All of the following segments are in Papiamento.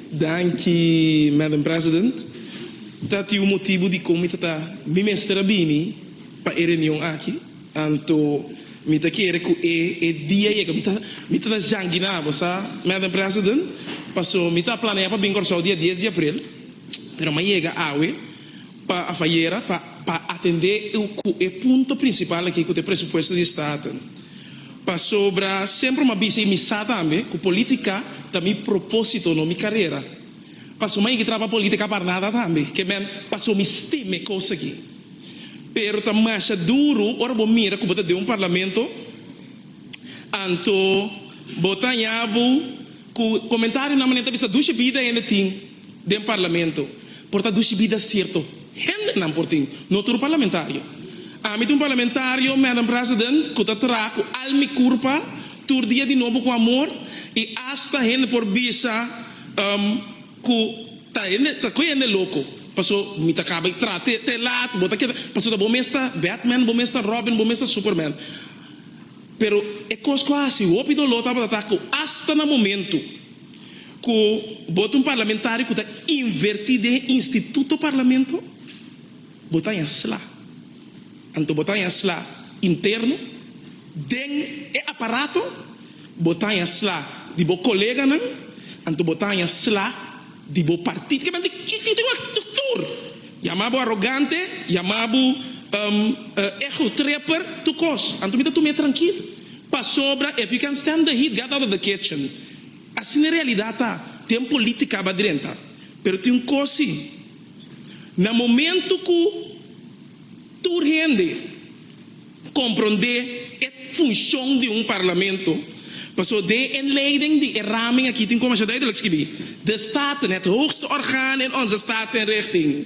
Danki, Madam President. Ta tin un motibu dikon mi ta ta mi mester a bini pa e reunion aki. Anto mi ta kere ku e e dia yega. Mi ta mi ta ta janki na abo sa, Madam President, paso mi ta planea pa bin Kòrsou dia dies di april, pero mi a yega awe. pa a fayera pa pa atende cu e punto principal aki cu ta e presupuesto di Staten. Pasobra semper m'ha bisa y mi sa tambe cu politica ta mi proposito no mi carera. Paso m'ha yega traba politica par nada tambe, que men paso mi stima e cos aki. Pero ta masha duro ora bo mira cu bo ta den un parlamento anto bo ta yabu cu comentario nan manera ta bisa dushi bida hende tin. Den parlamento por ta dushi bida sierto hendenan por tin, no tur parlamentario. Ami ta un parlamentario, Madam President, ku ta traha ku al mi kurpa tur dia di nobo ku amor i asta hende por bisa ku ta hende ta koe hende loko paso mi ta kaba di traha te te lat bo ta keda paso ta bo mes ta Batman, bo mes ta Robin, bo mes ta Superman. Pero e kos ku a hasi hopi doló tabata ta ku asta na momentu. Ku bo ta un parlamentario ku ta inverti den e instituto parlamento, bo ta haña sla. Anto bo ta haña sla interno, den e aparato, bo ta haña sla di bo koleganan, anto bo ta haña sla di bo partido. Ke manera ku tin un tur yama bo arogante, yama bo ego tripper, tur kos. Anto mi ta tuma e trankil pasobra if you can stand the heat get out of the kitchen. Asina realidad ta, tin politica aba drenta, pero tin un cos si, na momento cu tur hende compronde e funcion di un parlamento, pasobra den e inleiding di e ramen aki tin como asha duidelijk skibi, De Staten, het hoogste orgaan in onze staatsinrichting.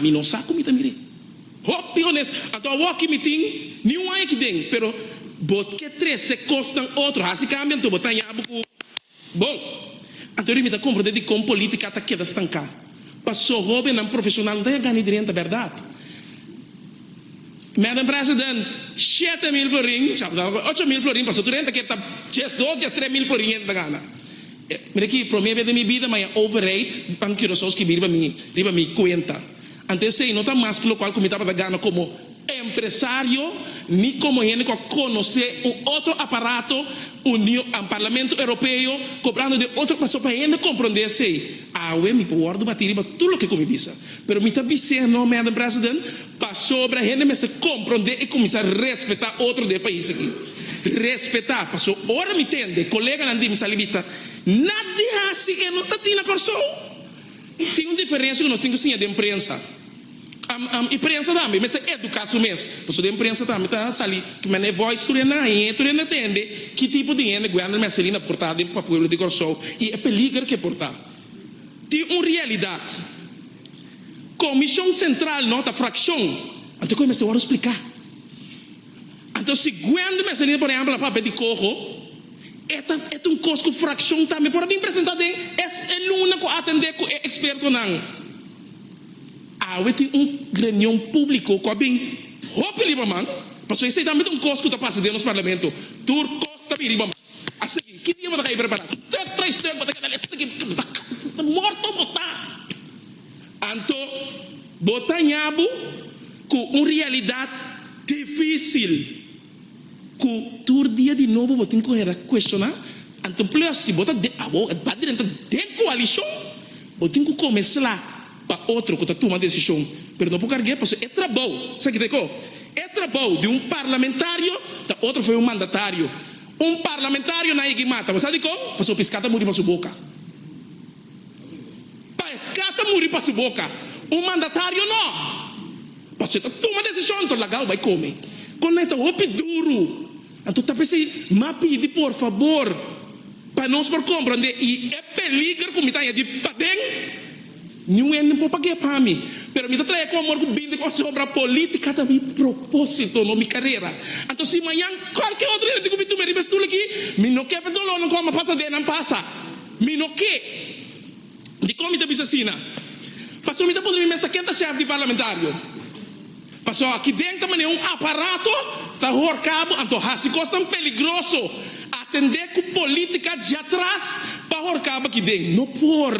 Mi no sa ku mi ta mira e. Hopi onesto. Anto awor aki mi tin ni un aña aki den, pero bo ke trese kosnan otro, hasi kambia anto bo ta haña abo ku bon. Anto ri mi ta komprende dikon politika ta keda stanká. Paso hobennan profeshonal no ta haña gana e drenta, bèrdat? Madam President, shete mil florin, ocho mil florin pasobra tur hende ke ta djes dos, djes tres mil florin hende ta gana. Mira aki, promé bes den mi bida maya overheid ban Curaçao skibi riba mi, riba mi kuenta. Ante esei no ta mas ku lokual ku mi tabata gana komo empresario ni komo hende ku a konosé un otro aparato Unio, Parlamento Europeo kobrando den otro pasobra pa hende komprondé esei. Awe mi por wòrdu batí riba tur loke ku mi bisa. Pero mi ta bis'é, No, Madam President, pasobra hende mester komprondé i kuminsá respetá otro den e pais akí. Respetá, pasó ora mi tende koleganan di mi sali bitsa, Nat di hasi e no ta tin na Kòrsou. Tin un diferensia ku nos tin ku siña den prensa. Am, am, i prensa tambe mester eduká su mes, pasó den prensa tambe ta sali kimanera e voice tur ena i e tur ena tende ki tipo di hende Guender Merceline a portá den pa pueblo di Kòrsou i e peliger ku e portá. Tin un realidat. Komishon Sentral no ta frakshon. Anto kue mester wòrdu spliká? Anto si Gwende mester lina por ehèmpel a papia di koho, e ta e ta un kos ku frakshon tambe por a bin presentá den e e luna ku a atendé ku e ekspertonan. Awe tin un reunion públiko ku a bin hopi riba man, pasobra esei tambe ta un kos ku ta pasa den nos parlamento. Tur kos ta bin riba man. A sigui, ki dia bo ta ka e prepará? Stuk tres stuk bo ta keda lesa taki morto bo ta. Anto bo ta haña bo ku un realidat difísil ku tur dia di nobo bo tin ku hera kuestioná. Anto plus si bo ta den, awor e balderen ta den koalishon, bo tin ku kome sla. pa otro cu ta tuma decision, pero no por carg'e pasobra e trabou, sa ki't'e co? E trabou di un parlamentario ta otro for un mandatario. Un parlamentario nadie ki mata, bo sa dicon? Pasobra pisca ta muri pa su boca. Pesca ta muri pa su boca, un mandatario no, pasobra e ta tuma decision, enton laga'o bai come. Con ley ta hopi duru. Anto ta p'esei mi a pidi por fabor pa nos por komprondé i e peliger ku mi ta haña di paden. Niun hende no por pag'é pa mi, pero mi ta traha e komor ku bindi kos di obra polítika ta mi propósito, no mi karera. Anto si mañan kualke otro hende ku mi tuma riba e stul akí, mi no ke pa e dolónan ku amo a pasa den nan pasa. Mi no ke. Dikon mi ta bisa asina? Pasobra mi ta puntra mi mes ta ken ta shèf di parlamentario. Pasobra aki den ta manera un aparato ta horca bo, anto haci cosnan peligroso. Atende cu politica djatras pa horca bo aki den. No por.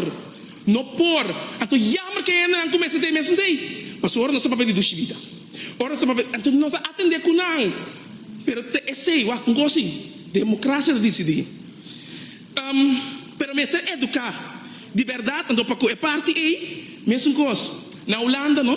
No por. Anto jammer cu e hendenan cu mester ta e mesun dei. Pasobra ora nos ta papia di dushi bida. Ora nos ta papia, anto nos ta atende cu nan. Pero ta esey, wak un gosi. Democracia ta dicidi. Am, pero mester educa di berdad, anto pa cu e parti ey, mesun cos. Na Hulanda no.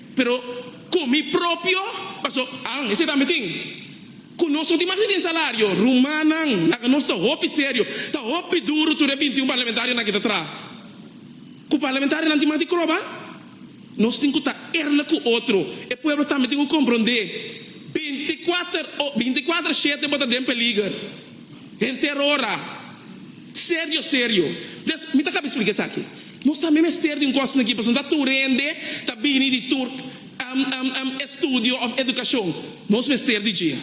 Pero ku mi propio, paso an esei tambe tin. Ku nos no tin mas ni den salario. Rumannan, laga nos ta hopi serio. Ta hopi duru tur e bintiun parlamentarionan kita traha. Ku parlamentarionan tin mas di kroba? Nos tin ku ta erna ku otro. E pueblo tambe tin ku komprondé. Binti kuater o, binti kuater shete bo ta den peliger. Henter ora serio serio. Des mi ta kaba explica esaki. Nos tambe mester di un cos aki pasobra no ta tur hende ta bini di tur estudio of educacion. Nos mester di dje.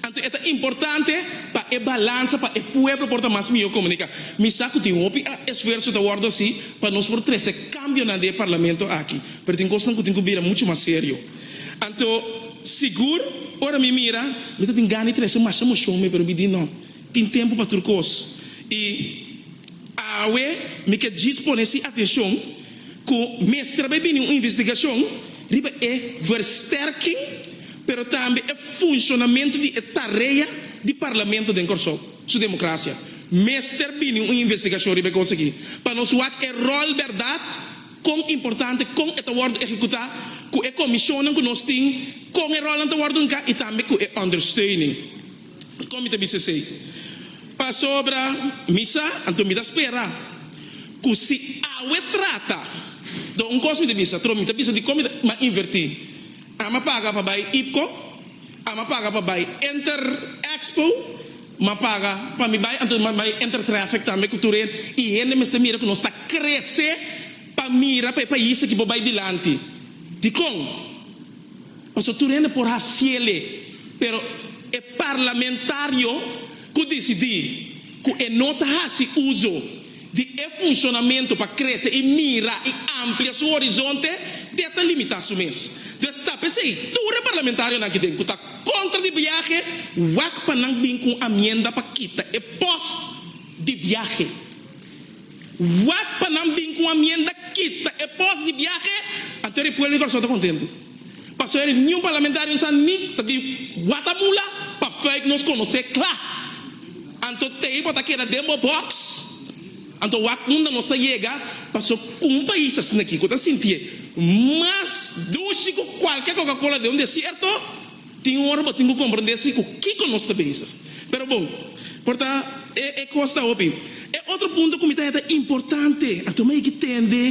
Anto e ta importante pa e balansa pa e pueblo por ta mas miyor comunica. Mi sa cu tin hopi esfuerzo ta wordo haci pa nos por trece cambionan den e parlamento aki. Pero tin cosnan cu tin cu bira mucho mas serio. Anto, sigur, ora mi mira, mi ta tin gana di trese masha moshon me, pero mi di no, tin tempu pa tur kos. I awe mi ke djis pone si atenshon ku mester bai bini un investigashon riba e versterking, pero tambe e funshonamentu di e tarea di Parlamento den Kòrsou. Su demokrasia. Mester bini un investigashon riba e kos aki pa nos wak e ròl bèrdat. Kon importante, kon e ta wòrdu ehekutá, ku e komishonnan ku nos tin, kon e ròlnan ta wòrdu nka i tambe ku e òndersteuning. Kon mi ta bisa esei? Pasobra mi sa, anto mi ta spera ku si awe trata, dor un kos mi ta bisa, tro mi ta bisa dikon mi ta a invertí. Ame a paga pa bai IPCO, ame a paga pa bai Inter Expo. M'a paga pa mi bai, anto m'a bai enter traffic tambe cu tur hende. Y hende mester mira cu nos ta crece pa mira pa e pais aki por bai dilanti. Dicon? Pasobra tur hende por haciele, pero e parlamentario cu dicidi cu e no ta haci uzo. di e funshonamentu pa krese i mira i amplia su horizonte te ta limitá su mes. Destá p'esei, tur e parlamentarionan akiden ku ta kontra di biahe wak pa nan bin ku un amienda pa kita e post di biahe. Wak pa nan bin ku un amienda kita e post di biahe, anto e pueblo di Kòrsou ta kontentu. Pasobra e niun parlamentario sa ni ta di wata mula pa feik nos konosé kla. Anto t'ei por ta keda den bo boks. Anto wak unda nos ta yega paso ku un pais asin'aki ku ta sintié mas dushi ku kualke kokakola den un desierto tin ora bo tin ku komprendé si ku kiko nos ta bezig. Pero bon, por ta e kos ta hopi. E otro punto ku mi ta he ta importante, anto mi a yegi tende.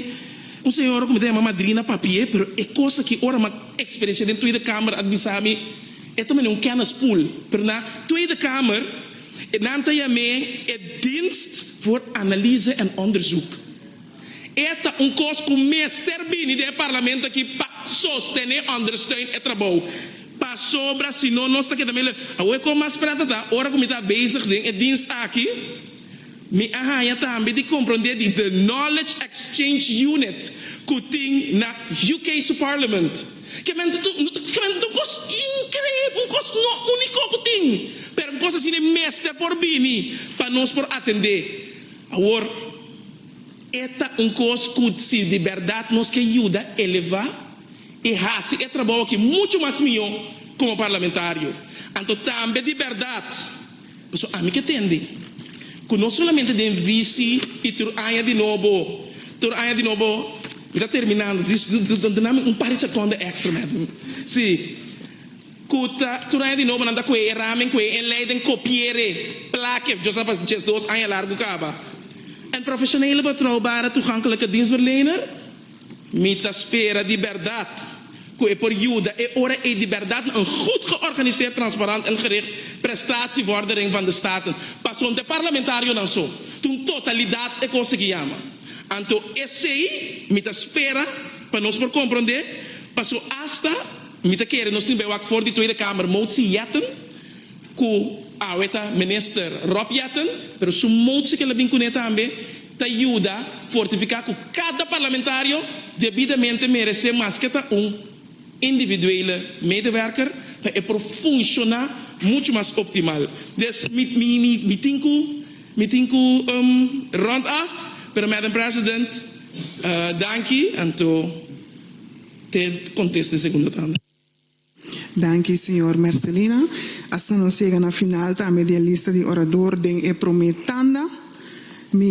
Un señora cu mi ta yama madrina papie, pero e cos aki ora m'at experiencia den Tweede Kamer a bisa mi e ta mane un kennispool. Pero na Tweede Kamer nan ta yam'é e Dienst voor Analyse en Onderzoek. E ta un cos cu mester bini den e Parlamento aki pa sostene, ondersteun, e trabou. Pasobra si no nos ta keda mele. Awor e con mas prata ta ora cu mi ta bezig den e Dienst aki. Mi a haña tambe di komprondé di The Knowledge Exchange Unit ku tin na UK su Parliament. Kemente tu kemente ta un kos inkreib, un kos no úniko ku tin, pero un kos asina mester por bini pa nos por atendé. Awor, e ta un kos ku si di bèrdat nos ke yuda elevá i hasi e trabou aki muchu mas mihó komo parlamentario, anto tambe di bèrdat, Pasobra ami ke tende ku no solamente den visi i tur aña di nobo, tur aña di nobo, mi ta terminando, duna mi un par di sekonda èkstra mes nan, si, ku ta tur aña di nobo nan ta ku'e e ramen, ku'e e lei den kopiere, plake, djos apa djes dos aña largu kaba. En profesionele patrou Bara Toegankelijke Dienstverlener. Mi ta spera di bèrdat ku e por yuda e ora ei di bèrdat na un gud georganiseerd, transparant en gericht prestatievordering van de staten. Pasobra e parlamentarionan so ta un totalidat e kos aki yama. Anto esei mi ta spera pa nos por komprondé, pasobra asta mi ta kere nos tin bai wak for di Tweede Kamer motsi Jetten, ku awe ta Minister Rob Jetten, pero su motsi ke el a bin kuné tambe, ta yuda fortifiká ku kada parlamentario debidamente meresé maske ta un individuele medewerker pa e por funshoná muchu mas optimal. Dus mi mi mi mi tin ku mi tin ku rond af pero Madam President danki anto te kontesta e segunda tanda. Danki señor Mercelina. Asina nos yega na final tambe di e lista di orador den e promé tanda. Mi.